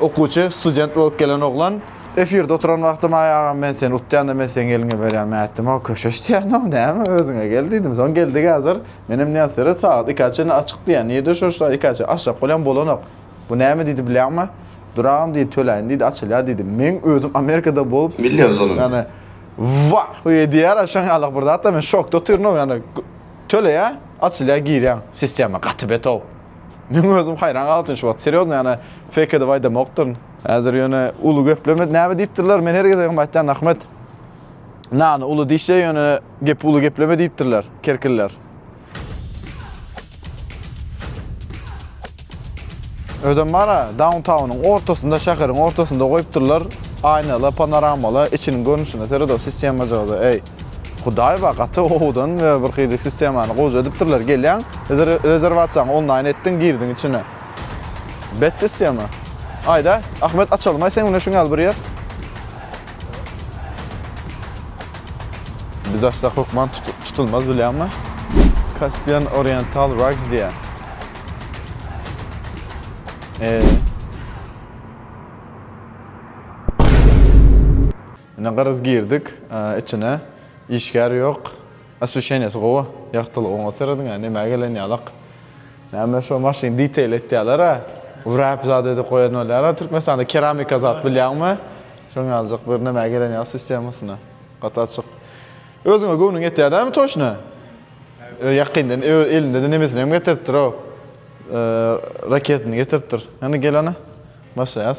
Okuwçy, student bolup gelen oglan, Efirde oturan wagtym, Aý, agam, men seni utýan-da, men seň eliňe berýän ätdim-ow, köşeş diýýän-ow, näme, özüňe gel diýdim. Soň geldik häzir. Menem diýýän, seret, sagat ikä çenli açyk diýýän. Nirde şo sagat ikä çenli açjak bolýan, bolanok. Bu näme diýdi bilýäňmi? Dur, agam diýdi, töläýin diýdi, açylýar diýdi. Meň özüm Amerikada bolup, ýöne, wah-y diýýär, a şoň ýaly bir zat-da. Men şokda otyryn-ow, ýagny, töleýär, açylýar, girýäň. Sistema gaty bet-ow. Men özüm haýran galypdym şu wagt. Serýozno ýany fake edip aýdamokdyryn. Häzir ýöne uly gepleme näme diýipdirler men her gezegem aýtýan Ahmet nany uly diýişje ýöne gepi uly gepleme diýipdirler kerkiller. Özem bara dawntawnyň ortasynda şäheriň ortasynda goýupdyrlar aýnaly panoramaly içiniň görnüşine seredip sistemajygy eý. Hudaýewa gaty gowudan we bir hili sistemany gowja edipdirler gelýäň rezerwasiýaňy onlaýn etdiň girdiň içine bet sistema aýda Ahmet açalymaý seň bilen şuň ýaly bir ýer biz açsak hökman tutulmaz bilýäňmi Caspian Oriental Rugs diýýär eee Ine gyryz girdik içine işgär ýok osweşenýesi gowy ýagtylygyňa serediňä nämä gelen ýalak näme şo maşyn detail etýälera wrap zat edip goýan bolýara türkmenistanda keramika zat bilýäňmi şoň ýaljak bir nämä gelen ýaly sistemasyna gaty açyk özüňe göwnüň ýetýä dämi toşna ýakynda elindede nemesinem getiripdirou raketini getiripdir hany gel ana başlaýas.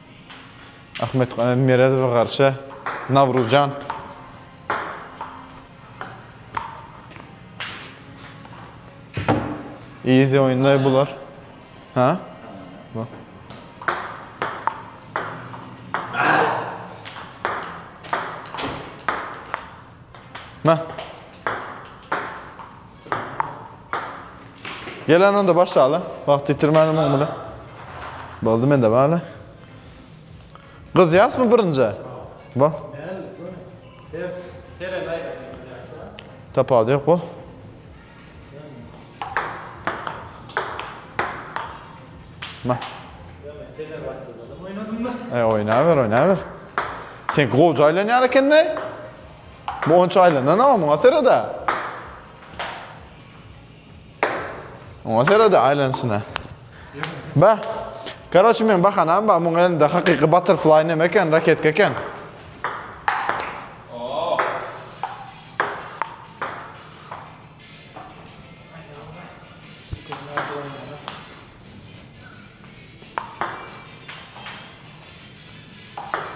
Ahmet Ganem Meredowa garşy Nawruzjan. Easy oýunlar bular. Ha? Bu. Ma. Gelen onda başlaly. Wagt ýitirmäne muň bilen. Boldy mende bala. Gyzýasmy birinje? Bo. Tapawudy ýok bo. Ma. Ay oýnaber, oýnaber. Sen gowy jaýlanýar ekende. Bu onça aýlanana oňa serede. Oňa serede aýlanşyna. Ba. Karoçi men bahanam ba, muň elinde hakyky butterfly näme eken, raketka eken.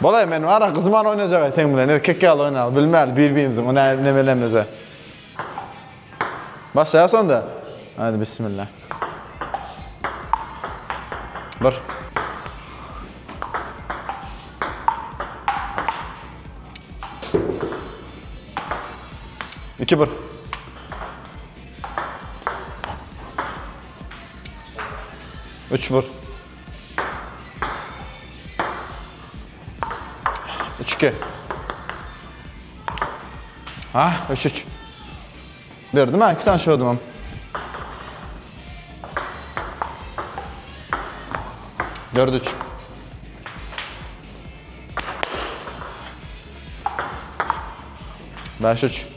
Bolay men ara gyzman oynayacak sen bilen erkek yalı oynayalım bilmeli bir birimizi ona ne bilemizde. Başlaya sonda. Hadi bismillah. Bir. İki bir. Üç bir. Üç iki. Ha, üç üç. Berdim ha, iki tane şu ödümüm. Dört üç. Beş üç.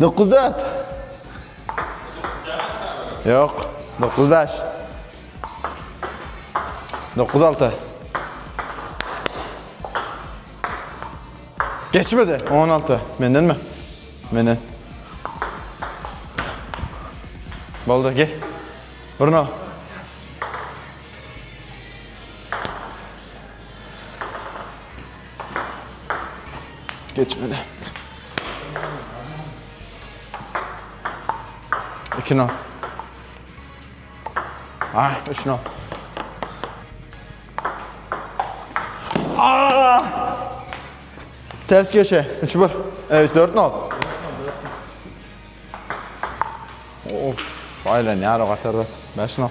Dokuz dört. Yok. Dokuz beş. Dokuz altı. Geçmedi. On altı. Menden mi? Menden. Boldu gel. Bruno. Geçmedi. İki no. Ah, üç no. Ah! Ters köşe. Üç bir. Evet, dört no. Of, aylan yara katar bet. Beş no.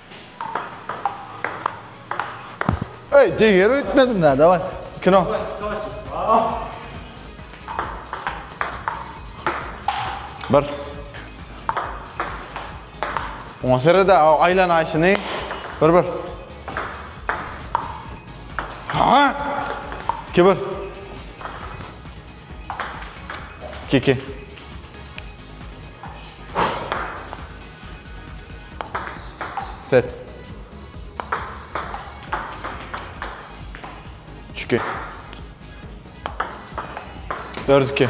Ey, deger öýtmedim da, daway. Kino. Bir. Oňa serede aylan ayşyny. Bir bir. Ha! İki bir. İki iki. Set. Üçki. Dört iki.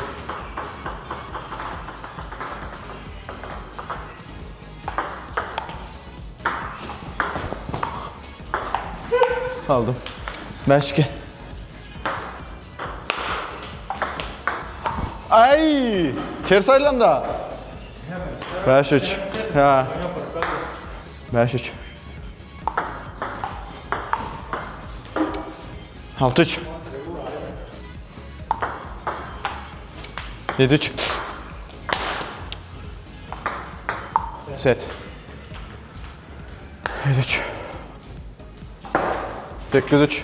Aldım. Beş iki. Aý! Ters aýlanda. Bäş üç. Hä. Bäş üç. Alty üç. Yedi üç. Set. Yedi üç. Sekiz üç.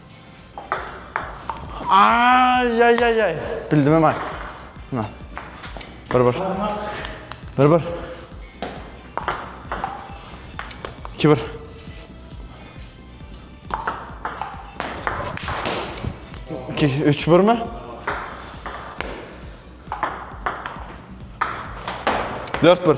Ay ay ay ay. Bildim hemen. Buna. Bir bir. Bir bir. İki bir. İki, üç bir mi? Dört bir.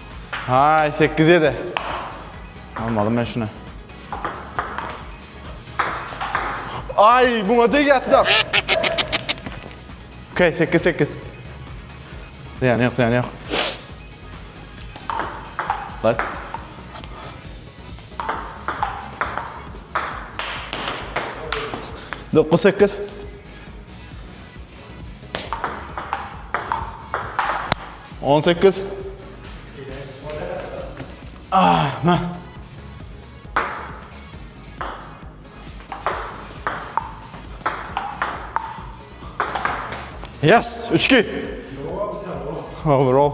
Hay, sekiz yedi. Almadım ben şuna. Ay, buna değil yatı da. Okey, sekiz, sekiz. Ziyan yok, ziyan yok. Bak. Dokuz, sekiz. On sekiz. Ah, nah. Yes, üç ki. Olur ol.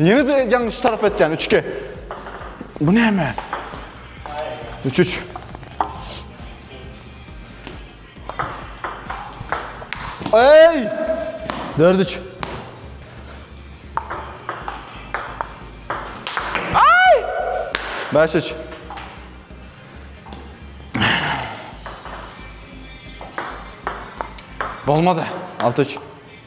Ýene de ýalňyş tarap etýän üçge. Bu näme? Üç üç. Ey! Dört üç. Ay! Beş üç. Olmadı. Altı üç.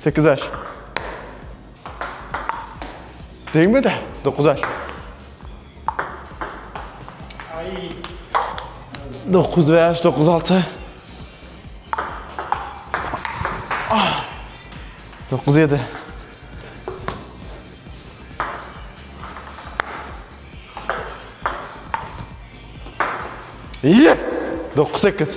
Sekiz aş. Degme de. Dokuz aş. Dokuz beş, dokuz altı. Ah. Dokuz yedi. İyi. Dokuz sekiz.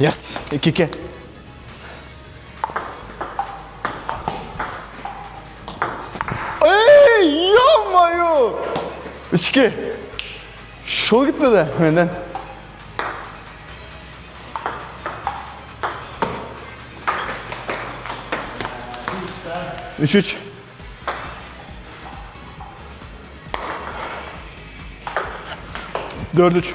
Yes, iki iki. Ey, yapma yo. Üç iki. Şol gitme de benden. Üç üç. Dört üç.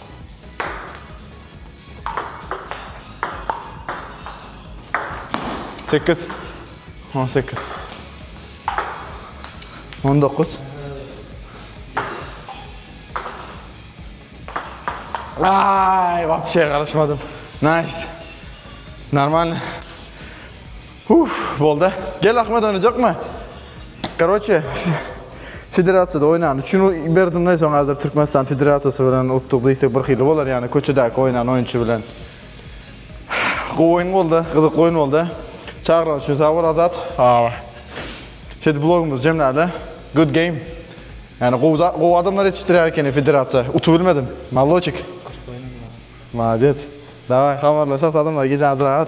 Sekiz. On sekiz. On dokuz. Ay, vapşe karışmadım. Nice. Normal. Huh bolda gel Ahmet oýnajakma. Karoçe Federasiýada oýnan üçin berdim de soň hazir Türkmenistan Federasiýasy bilen utduk diýsek bir hili bolar ýani köçedäki oýnan oýunçy bilen. Gowy oýun bolda gyzykly oýun bolda. Çagyran üçin sag bol Azat. Aa. Şeýdip blogumyzy jemläli. Good game. Ýani gowy da gowy adamlar ýetişdirýär ekeni Federasiýa. Utup bilmedim. Maloçik. Malodes. Daway habarlaşas adamlar gijä drak at.